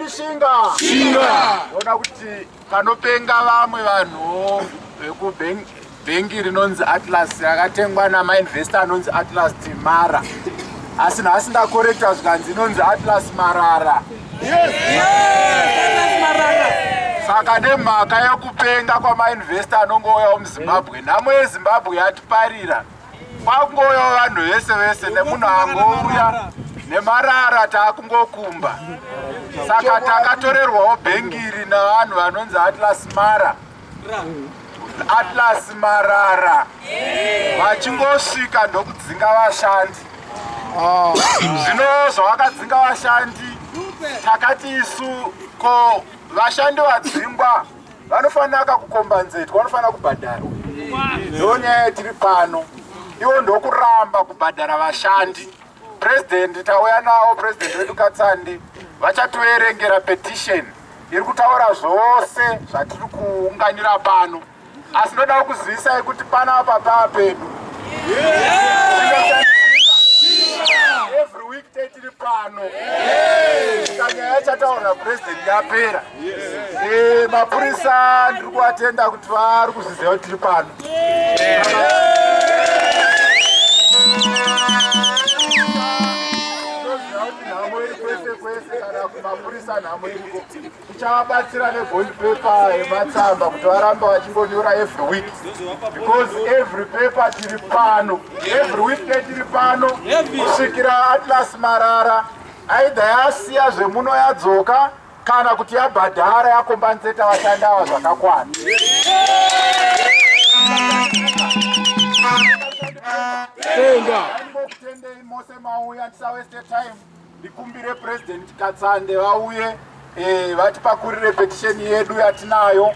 Shinga. Shinga. Ndoda kuti panopenga vamwe vanhu vekubhengi rinonzi Atlas rakatengwa namainvesta anonzi Atlas Timara asi nhasi ndakorekta zvikanzi inonzi Atlas Marara. Yes. Yes. Marara. Saka nemhaka yekupenga kwamainvesta anongouyawo muZimbabwe nhamo yeZimbabwe yatiparira Kwangoyo vanhu vese vese nemunhu angouya nemarara taakungokumba saka takatorerwawo bhengiri navanhu vanonzi atlas mara atlas marara vachingosvika ndokudzinga vashandi ah. zvino zvavakadzinga vashandi takati isu ko vashandi vadzingwa vanofanira kakukombanzetwa vanofanira kubhadharwa ndo nyaya yatiri pano ivo ndokuramba kubhadhara vashandi purezidendi tauya navo purezidendi vedu katsande vachatoverengera petisheni iri kutaura zvose zvatiri kuunganira pano asi ndoda kuzivisai kuti panapa paa pedu every week tetiri pano kanyaya chataura purezidendi yapera Eh, mapurisa ndiri kuvatenda kuti vari kuzviziva kuti tiri pano mapurisa nhamo iriko tichavabatsira nebond paper yematsamba kuti varambe vachingonyora every week because every paper tiri pano every week netiri pano kusvikira atlas marara aidha yasiya zvemuno yadzoka kana kuti yabhadhara yakomba nzeta vashandi ava zvakakwana kutendei mose mauya tisaweste time ndikumbire president katsande vauye eh, vatipakurire petisheni yedu yatinayo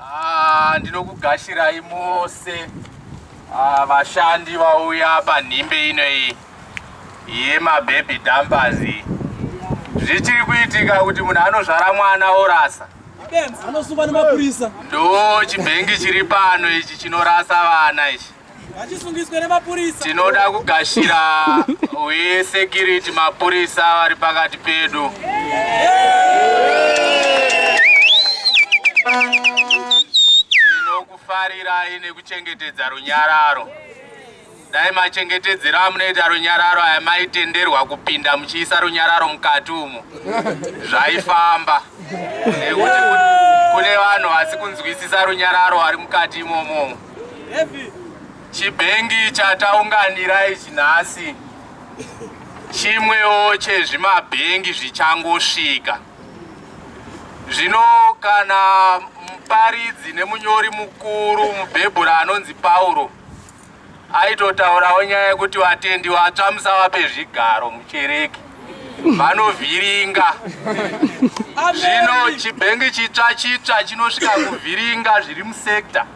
Ah, ndinokugashirai mose ah, vashandi vauya panhimbe ino iyi yemababy dumpers zvichiri kuitika kuti munhu anozvara mwana orasa anosungwa nemapurisa ndo chibhengi chiri pano ichi chinorasa vana ichi vachisungiswa nemapurisa. Tinoda kugashira we security mapurisa vari pakati pedu. Tinokufarirai nekuchengetedza runyararo. Dai machengetedzero amunoita runyararo aya maitenderwa kupinda muchiisa runyararo mukati umo zvaifamba nekuti kune vanhu vasi kunzwisisa runyararo vari mukati imomomo. Chibhengi chataunganira ichi nhasi chimwewo chezvimabhengi zvichangosvika. Zvino kana muparidzi nemunyori mukuru mubhebhura anonzi Pauro aitotaurawo nyaya yekuti vatendi vatsva musavape zvigaro muchereke vanovhiringa zvino chibhengi chitsva chitsva chinosvika kuvhiringa zviri musekta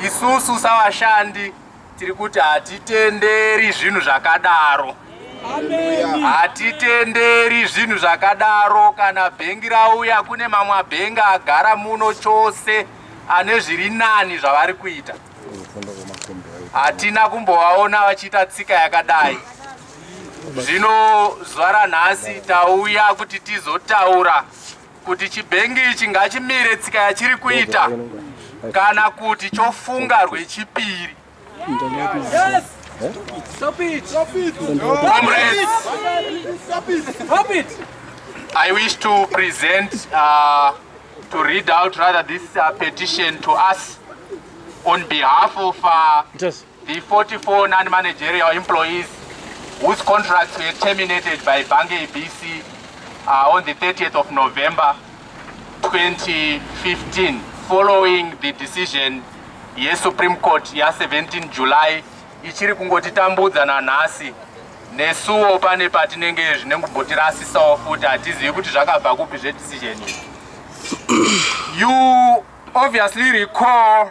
Isusu savashandi tiri kuti hatitenderi zvinhu zvakadaro. Hatitenderi zvinhu zvakadaro kana bhengi rauya kune mamwe bhengi agara muno chose ane zviri nani zvavari kuita. Hatina kumbovaona vachiita tsika yakadai. Zvino zuva ranhasi tauya kuti tizotaura kuti chibhengi ichi ngachimire tsika yachiri kuita kana kuti chofunga rwechipiri I wish to present uh, to read out rather this uh, petition to us on behalf of uh, The 44 non-managerial employees whose contracts were terminated by Bange ABC uh, on the 30th of November 2015 following the decision yeSupreme Court ya 17 July ichiri kungotitambudza nanhasi nesuwo pane patinenge zvine kubotirasisawo futi hatizivi kuti zvakabva kupi zvedecision you obviously recall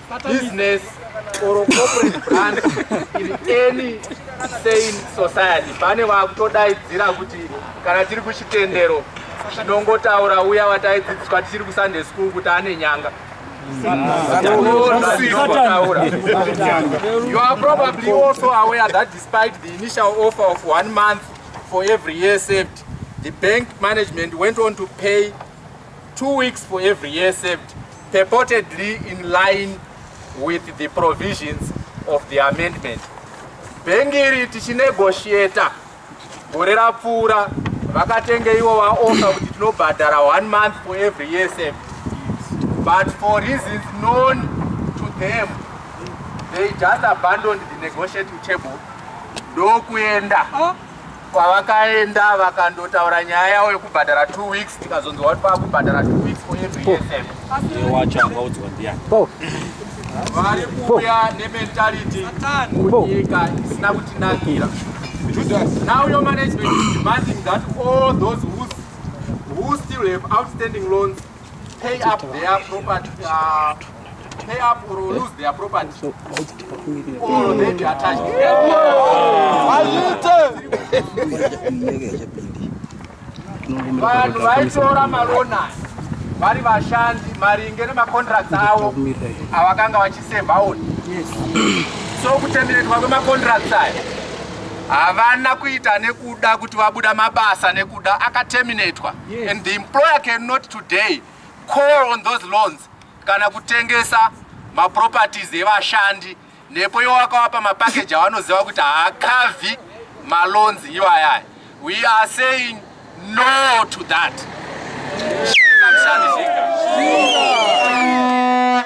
business or corporate brand in any sane society pane vakutodaidzira kuti kana tiri kuchitendero tinongotaura uya wataidzidziswa tichiri kusunday school kuti ane nyanga You are probably also aware that despite the initial offer of one month for every year saved, the bank management went on to pay Two weeks for every year saved, purportedly in line with the provisions of the amendment. Bhengi iri tichinegotiator gore rapfuura vakatenge ivo vaofa kuti tinobhadhara one month for every year saved. But for reasons known to them, they just abandoned the negotiating table ndokuenda. Oh. Kwavakaenda vakandotaura nyaya yavo yekubhadhara 2 weeks tikazonzwa kuti vakubhadhara 2 weeks for every lesson. Wacho angaudzwa ndiani? Vari kuuya nementality nyika isina kutinakira. Now your management is demanding that all those who, who still have outstanding loans pay up their property uh, pay up or lose their property or they be attached vanhu vaitora marona vari vashandi maringe nemacontracts avo avakanga vachiseva on so kutenderetwa kwemacontracts aya havana kuita nekuda kuti vabuda mabasa nekuda akaterminatwa yes. and the employer cannot today call on those loans kana kutengesa maproperties evashandi nepo iwo wakawapa mapakeji awanoziva kuti haakavhi maloans iwayaya we are saying no to that Shika, mshandi, shika. Shika.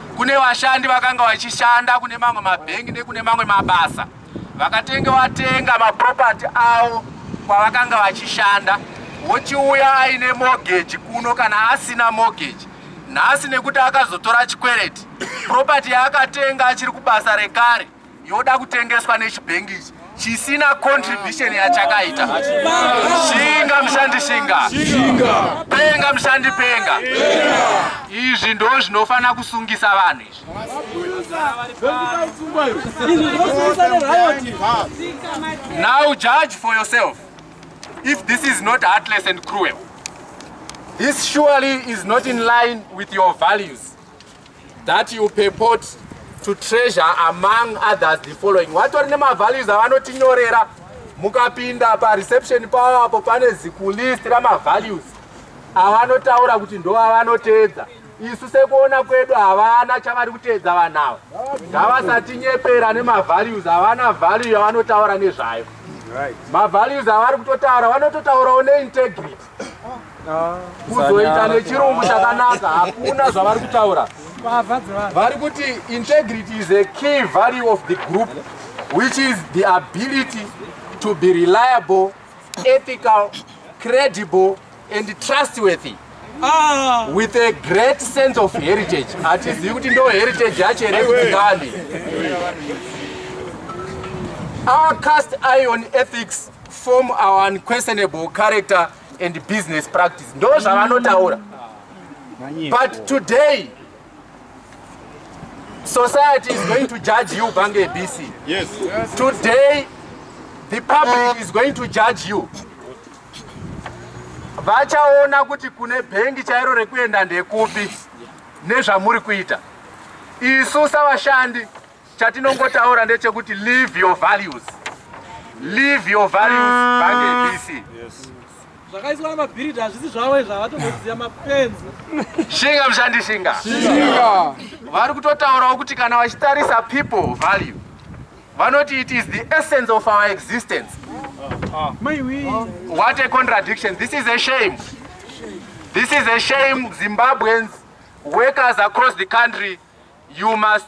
Kune vashandi vakanga vachishanda kune mamwe mabhengi nekune mamwe mabasa vakatenge watenga mapropati avo kwavakanga vachishanda wochiuya aine mogeji kuno kana asina mogeji nhasi nekuti akazotora chikwereti propati yaakatenga achiri kubasa rekare yoda kutengeswa nechibhengi ichi chisina contribution yachakaita shinga mushandi shinga penga mushandi penga izvi ndo zvinofanira kusungisa vanhu izvi now judge for yourself if this is not heartless and cruel this surely is not in line with your values that you purport to treasure among others the following watori nemavalues avanotinyorera mukapinda pareception pavo apo pane zikulist ramavalues avanotaura kuti ndo avanoteedza isu sekuona kwedu havana chavari kuteedza vanhu ava ngavasatinyepera nemavalues avana value yavanotaura nezvayo mavalues avari kutotaura vanototaurawo neintegrity kuzoita nechirungu chakanaka hakuna zvavari kutaura vari kuti integrity is a key value of the group which is the ability to be reliable ethical credible and trustworthy ah. with a great sense of heritage hatizivi kuti ndo heritage yacho here kutikani our cast iron ethics form our unquestionable character and business practice ndo zvavanotaura but today society is going to judge you bange bc yes. today the public is going to judge you vachaona kuti kune bhengi chairo rekuenda ndekupi nezvamuri kuita isu savashandi Chatinongotaura ndechekuti live your values. Live your values bange ABC. Yes. Zvakaiswa namabhiridi hazvisi zvavo izvo havatoziva mapenzi. Shinga mshandi shinga. Shinga. Vari kutotaurawo kuti kana vachitarisa people value vanoti it is the essence of our existence. Ah. What a contradiction. This is a shame. This is a shame Zimbabweans workers across the country you must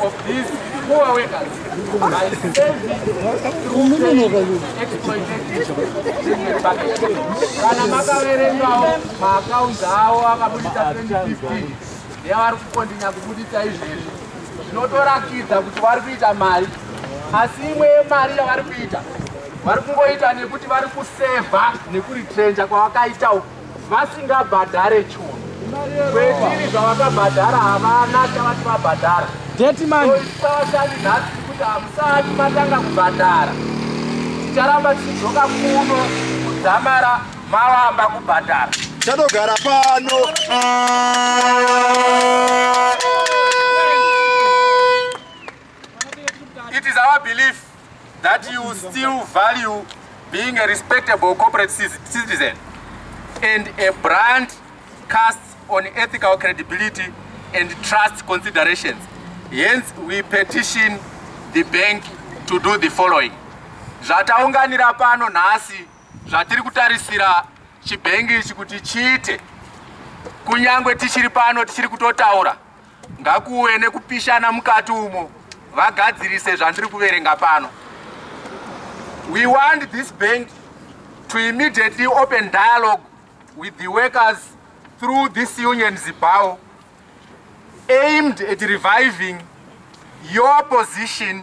of these poor workers by saving kana makaverengawo maakaunzi awo akabudisa 2015 nevari kukondinya kubudisa izvezvi zvinotorakidza kuti vari kuita mari asi imwe yemari yavari kuita vari kungoita nekuti vari kusevha nekuritrenja kwavakaita uku vasingabhadhare chunhu kwetiri zvavakabhadhara havana chavati vabhadhara detimanisaashandi nhasi kuti hamusati matanga kubhadhara ticharamba tichidzoka kuno kudzamara mavamba kubhadhara chatogara pano it is our belief that you still value being a respectable corporate citizen and a brand cast on ethical credibility and trust considerations. Hence, we petition the bank to do the following. Zvataunganira pano nhasi zvatiri kutarisira chibhengi ichi kuti chiite kunyangwe tichiri pano tichiri kutotaura Ngakuwe nekupishana mukati umo vagadzirise zvandiri kuverenga pano. We want this bank to immediately open dialogue with the workers through this union Zibao aimed at reviving your position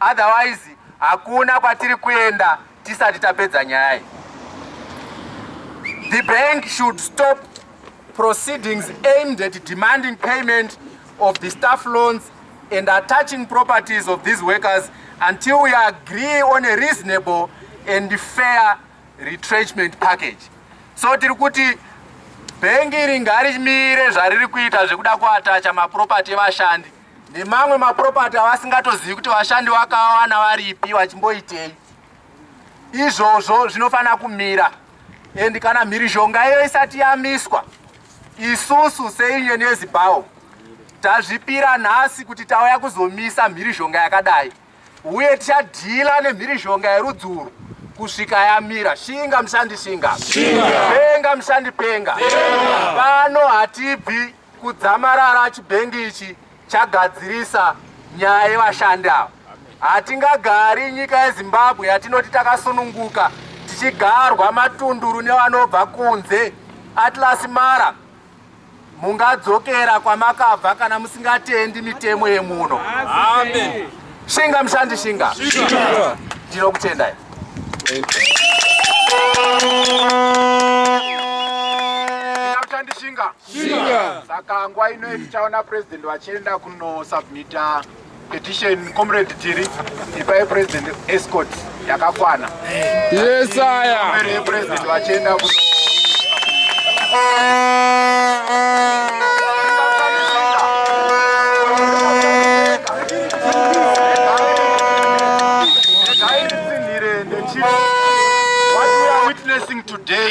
otherwise hakuna kwatiri kuenda tisati tapedza nyaya iyi. The bank should stop proceedings aimed at demanding payment of the staff loans and attaching properties of these workers until we agree on a reasonable and fair retrenchment package. So tiri kuti bhengi iri ngarimire zvariri kuita zvekuda kuatacha maproperty evashandi nemamwe maproperty avasingatozivi kuti vashandi vakawana varipi vachimboitei izvozvo zvinofanira kumira and kana mhirizhonga iyo isati yamiswa isusu seunion yezibawo tazvipira nhasi kuti tauya kuzomisa mhirizhonga yakadai uye tichadhila nemhirizhonga yerudzi urwu kusvika yamira shinga mushandi shinga penga mushandi penga pano hatibvi Kudzamarara chibhengi ichi chagadzirisa nyaya yevashandi ava. Hatingagari nyika yeZimbabwe yatinoti takasununguka tichigarwa matunduru nevanobva kunze. Atlas Mara mungadzokera kwamakabva kana musingatendi mitemo yemuno. Amen. Shinga mshandi shinga. Shinga. Ndinokutendai. Mshandi shinga. Shinga. Saka nguva ino tichaona president vachienda kunosubmita petition comrade tiri ipai president escort yakakwana yesaya mberi yepresident vachienda kuno What we are witnessing today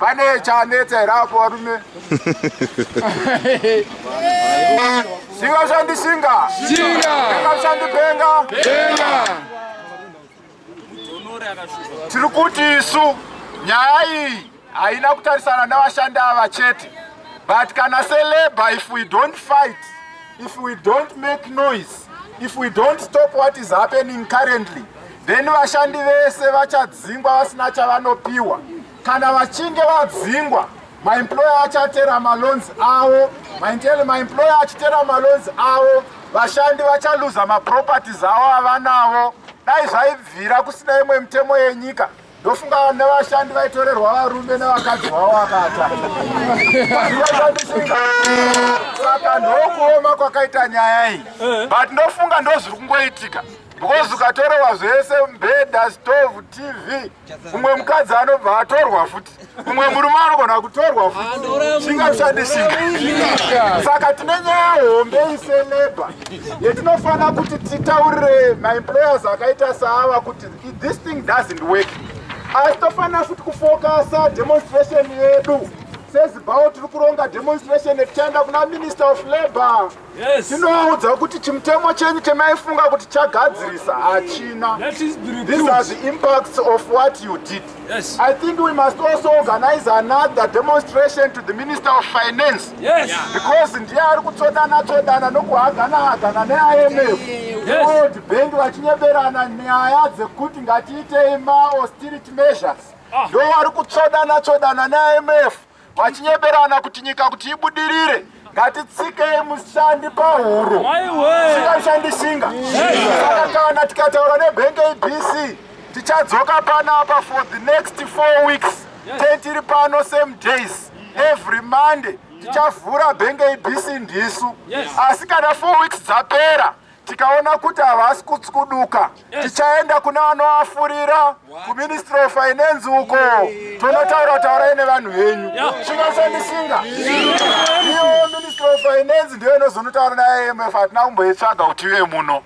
pane chanetsa here apo varume singa shandi singa singa shandi penga tiri kuti isu nyaya iyi haina kutarisana nevashandi ava chete but kana selabor if we don't fight if we don't make noise if we don't stop what is happening currently then vashandi vese vachadzingwa vasina chavanopiwa kana vachinge vadzingwa maemployer achatera malons avo maintel maemployer achitera malons avo vashandi vachaluza maproperties avo avanavo dai zvaibvira kusina imwe mitemo yenyika ndofunga nevashandi vaitorerwa varume nevakadzi vavo vakata saka ndokuoma kwakaita nyaya iyi eh. but ndofunga ndozviri kungoitika because ukatorewa zvese mbeda stove tv umwe mukadzi anobva atorwa futi Umwe murume anogona kutorwa zvingashandisika. Saka tine nyaya hombe iseleba yetinofanira kuti titaurire maemployers akaita saava kuti this thing doesn't work. Asi tofanira futi kufokasa demonstration yedu sezibawo tiri kuronga demonstration yetichaenda kuna minister of labour. tinovaudza kuti chimutemo chenyu chamaifunga kuti chagadzirisa hachina these are the impacts of what you did yes. i think we must also organize another demonstration to the minister of finance yes. yeah. because ndiye ari kutsodana tsodana nokuhagana hagana neimf world bank vachinyeberana nyaya dzekuti ngatiitei maausterity measures ah. ndo vari kutsodana tsodana neimf vachinyeberana kuti nyika kuti ibudirire ngatitsikei mushandi pahuro shinga mushandi shinga saka kana tikataura nebank abc tichadzoka panapa for the next four weeks te tiri pano same days every monday tichavhura bank abc ndisu asi kana four weeks dzapera tikaona kuti havasi kutskuduka tichaenda kuna vanoafurira kuministry of finance uko tonotaura taurai nevanhu venyu chingashandisinga iyo ministry of finance ndiyo inozonotaura naimf hatina kumboitsvaga kuti ive muno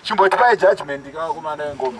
chimboti pai judgment kavakomana vengoma